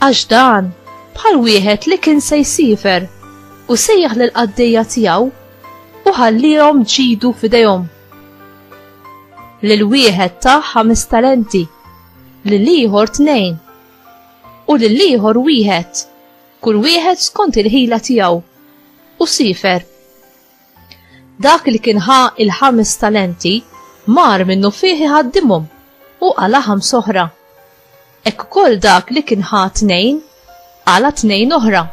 Għax dan bħal wieħed li kien se jsifer u sejjaħ lil qaddejja tiegħu u ħallihom ġidu f'idejhom. Lil wieħed ta' ħames talenti, lil ieħor tnejn u lil ieħor wieħed, kull wieħed skont il-ħila tiegħu u sifer Dak li kien ħa il-ħames talenti mar minnu fih iħaddimhom u qala ħams oħra. Hekk ukoll dak li kien ħa tnejn qala tnejn oħra.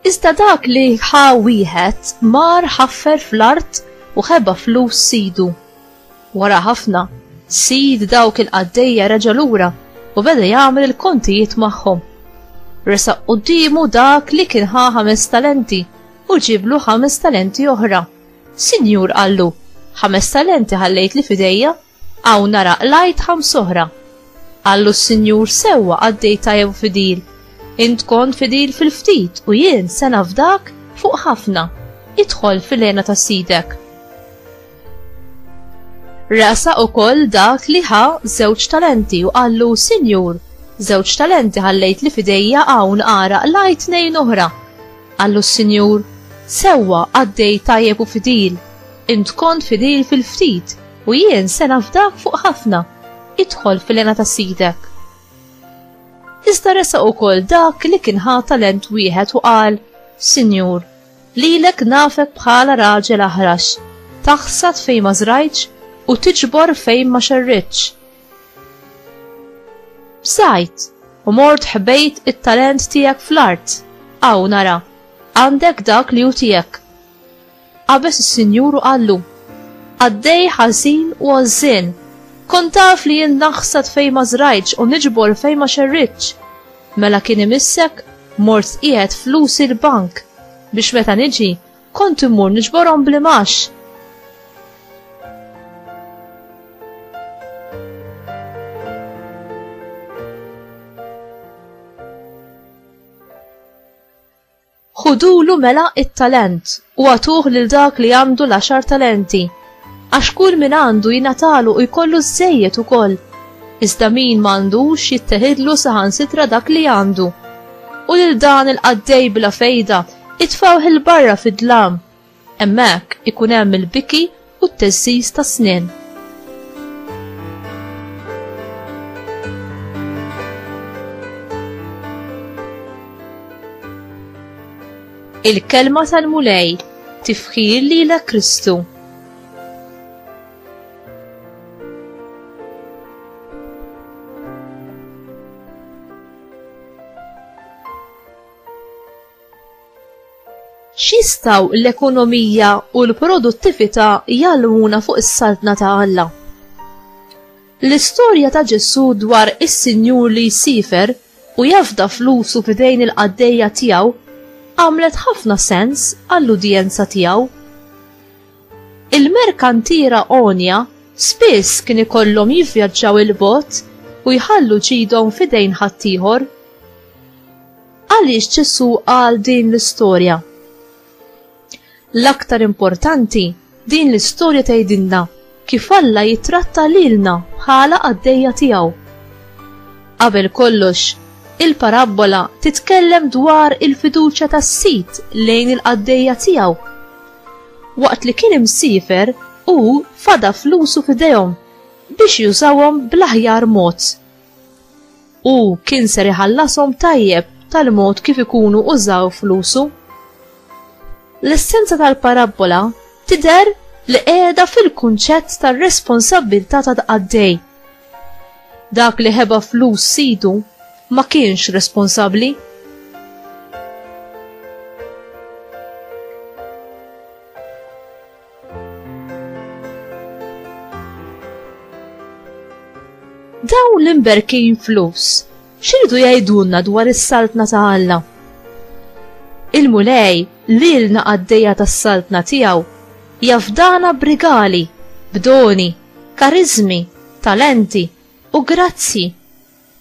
Iżda dak li ħa wieħed mar ħaffer fl-art u ħeba flus sidu. Wara ħafna, sid dawk il-qaddejja reġa' lura u beda jagħmel il-kontijiet magħhom. Resaq quddiemu dak li kien ħa ħames talenti u ġiblu ħames talenti oħra. Sinjur qallu, ħames talenti ħallejt li fidejja Hawn nara qlajt ħams oħra. Qallu s-Sinjur, Sewwa qaddej tajjeb u fidil. Int kont fidil fil-ftit u jien se nafdak fuq ħafna. Idħol fil-hena ta' sidek. Rasa ukoll dak li ħa żewġ talenti u qallu, Sinjur, żewġ talenti ħallejt li fidejja hawn ara qlajt tnejn oħra. Qallu s-Sinjur, Sewwa qaddej tajjeb u fidil. Int kont fidil fil-ftit U jien se nafdak fuq ħafna, idħol fil-lena ta' sidek. Iżda resa u kol dak li kien ħa talent wieħed u qal, Sinjur, lilek nafek bħala raġel aħrax, taħsad fejn ma zrajċ u tiġbor fejn ma xerritx. Bżajt, u mort ħbejt it-talent tijak fl-art, għaw nara, għandek dak li u tijak. Qabeż is-Sinjur u qallu, Qaddej ħażin u għożżien! Kont taf li jien naħsad fejn ma żrajtx u niġbor fejn ma xerridtx. Mela kien imissek mort qiegħed flusi l-bank biex meta niġi kont immur niġborhom bl-imgħax. Ħudulu mela it-talent u agħtuh lil dak li għandu l-għaxar talenti, għax kull min għandu jingħatalu u jkollu żżejjed ukoll, iżda min m'għandux jittehidlu saħansitra dak li għandu. U lil dan il-qaddej bla fejda itfgħuh 'il barra fid-dlam Hemmhekk ikun hemm il-biki u t-teżżiż tas-snien. Il-kelma tal-Mulej tifħir lilek Kristu. X'jistgħu l-ekonomija u l-produttività jgħallmuna fuq is-Saltna ta' Alla? L-istorja ta' Ġesù dwar is-sinjur li jsiefer u jafda flusu f'idejn il-qaddejja tiegħu għamlet ħafna sens għall-udjenza tiegħu. Il-merkantiera għonja spiss kien ikollhom jivvjaġġaw 'il bogħod u jħallu ġidhom f'idejn ħaddieħor. Għaliex Ġesù qal din l-istorja? L-aktar importanti, din l-istorja tgħidilna kif Alla jittratta lilna bħala qaddejja tiegħu. Qabel kollox, il-parabbola titkellem dwar il-fiduċja tas-sid lejn il-qaddejja tiegħu. Waqt li kien imsifer, hu fada flusu f'idejhom biex jużawhom bl-aħjar mod. U kien ser iħallasom tajjeb tal-mod kif ikunu użaw flusu. L-essenza tal-parabbola tidher li qiegħda fil-kunċett tar-responsabbiltà ta' tqaddej. Dak li ħeba flus sidu ma kienx responsabbli. Dawn l-imberkin flus, xirdu jgħidulna dwar is-saltna ta' Alla? Il-mulej li l-na għaddeja tas-saltna tiegħu jafdana brigali, b'doni, karizmi, talenti u grazzi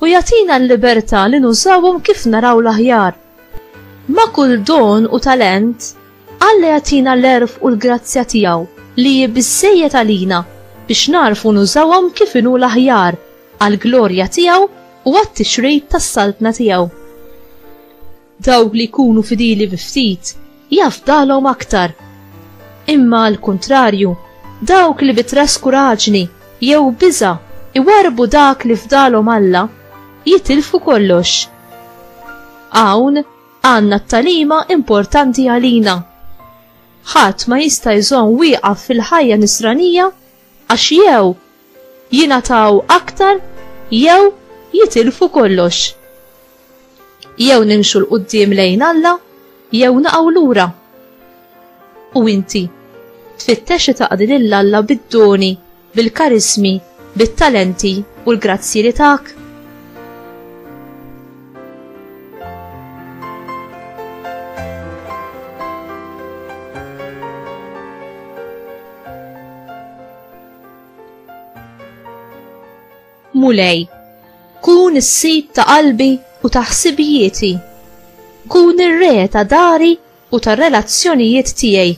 u jagħtina l-libertà li nużawhom kif naraw l-aħjar. Ma' kull don u talent, Alla jagħtina l-għerf u l-grazzja tiegħu li hi biżżejjed għalina biex nagħrfu nużawhom kif inhu l-aħjar għall-glorja tiegħu u għat-tixrid tas-Saltna tiegħu. Dawk li jkunu fidili bi ftit, jafdalhom aktar. Imma għal kuntrarju, dawk li bi traskuraġni jew biża' iwarrbu dak li fdalhom Alla, jitilfu kollox. Hawn għandna t-tagħlima importanti għalina. Ħadd ma jista' jżomm wieqaf fil-ħajja Nisranija Għax jew jingħataw aktar jew jitilfu kollox. Jew nimxu 'l quddiem lejn Alla jew naqgħu lura. U inti? Tfittex li taqdi lil Alla bid-doni, bil-karismi, bit-talenti u l-grazzji li tak? Mulej, kun is-sid ta' qalbi u ta' ħsibijieti. Kun ir-re ta' dari u ta' relazzjonijiet tiegħi.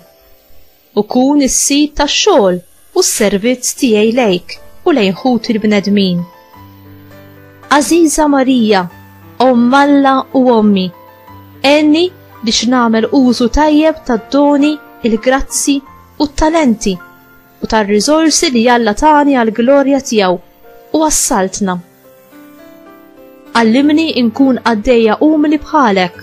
U kun is-sid tax-xogħol u s-servizz tiegħi lejk u lejn ħuti l-bnedmin. Għażiża Marija, Omm Alla u Ommi, għenni biex nagħmel użu tajjeb tad-doni, il-grazzi u t-talenti u tar-riżorsi li Alla tani għall-glorja tiegħu u għas-Saltna. Għallimni nkun qaddejja umli bħalek